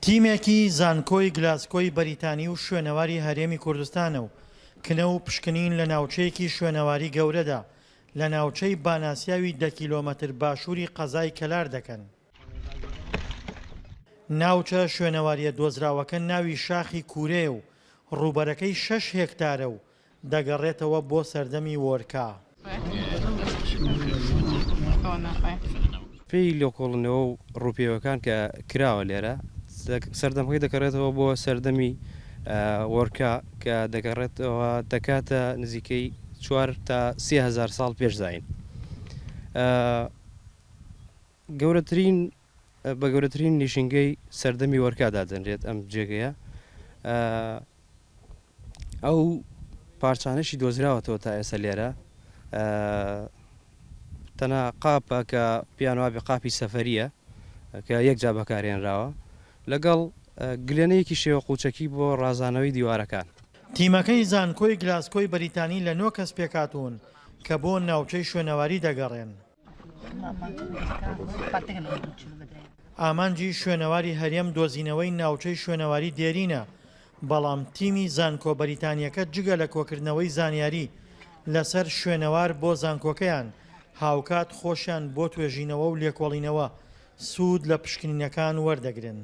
تیمێکی زانکۆی گلاسکۆی بەریتانی و شوێنەواری هەرێمی کوردستانە و کنە و پشکنین لە ناوچەیەکی شوێنەواری گەورەدا لە ناوچەی باناسیاوی دە کیلۆمەتر باشووری قەزای کەلار دەکەن. ناوچە شوێنەوارییە دۆزراوەکە ناوی شاخی کوورەیە و ڕووبەرەکەی شەش هێکتارە و دەگەڕێتەوە بۆ سەردەمی وۆرکا. پێی لێکۆڵنەوە و ڕووپێوەکان کە کراوە لێرە، سەردەمەکەی دەگەڕێتەوە بۆ سەردەمی وۆرکا کە دەگەڕێتەوە دەکاتە نزیکەی چوار تا سێ هەزار ساڵ پێش زایین. گەورەترین بە گەورەترین نیشینگەی سەردەمی وەرکا دادەنرێت ئەم جێگەیە. ئەو پارچانەشی دۆزراوەتەوە تا ئێستا لێرە تەنها قاپە کە پیان وابێ قاپی سەفەریە کە یەک جا بەکارێنراوە لەگەڵ گلێنەیەکی شێوە قوچەکی بۆ ڕازانەوەی دیوارەکان. تیمەکەی زانکۆی گلاسکۆی بەریتانی لە نۆ کەس پێکهاتوون کە بۆ ناوچەی شوێنەواری دەگەڕێن. ئامانجی شوێنەواری هەرێم دۆزینەوەی ناوچەی شوێنەواری دێرینە، بەڵام تیمی زانکۆ بەریتانییەکە جگە لە کۆکردنەوەی زانیاری لەسەر شوێنەوار بۆ زانکۆکەیان، هاوکات خۆشیان بۆ توێژینەوە و لێکۆڵینەوە سوود لە پشکنینەکان وەردەگرن.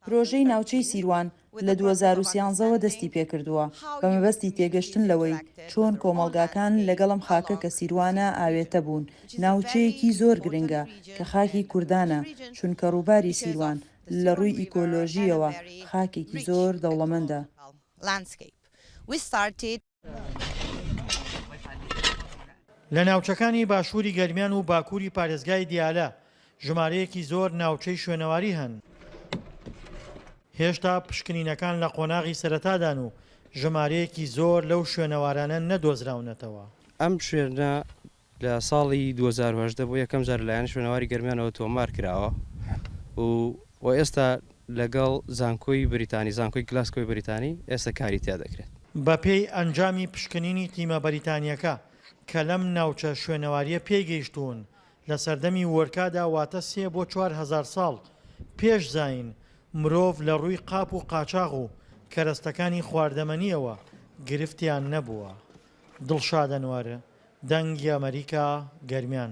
پرۆژەی ناوچەی سیروان لە دوو هەزار و سیانزە وە دەستی پێکردووە بە مەبەستی تێگەشتن لەوەی چۆن کۆمەڵگاکان لەگەڵ ئەم خاکە کە سیروانە ئاوێتە بوون، ناوچەیەکی زۆر گرنگە کە خاکی کوردانە چونکە ڕووباری سیروان لە ڕووی ئیکۆلۆژییەوە خاکێکی زۆر دەوڵەمەندە. لە ناوچەکانی باشووری گەرمیان و باکووری پارێزگای دیالە ژمارەیەکی زۆر ناوچەی شوێنەواری هەن. هێشتا پشکنینەکان لە قۆناغی سەرەتادان و ژمارەیەکی زۆر لەو شوێنەوارانە نەدۆزراونەتەوە. ئەم شوێنە لە ساڵی دوو هەزار و هەژدە بۆ یەکەم جار لەلایەن شوێنەواری گەرمیانەوە تۆمار کراوە و و ئێستا لەگەڵ زانکۆی بریتانی، زانکۆی گلاسکۆی بریتانی، ئێستا کاری تیا دەکرێت. بەپێی ئەنجامی پشکنینی تیمە بەریتانییەکە کە لەم ناوچە شوێنەوارییە پێی گەیشتوون، لە سەردەمی وۆرکادا واتە سێ بۆ چوار هەزار ساڵ پێش زایین، مرۆڤ لە ڕووی قاپ و قاچاغ و کەرەستەکانی خواردەمەنییەوە گرفتیان نەبووە. دڵشاد ئەنوەر. دەنگ ی ئەمەریکا گەرمیان.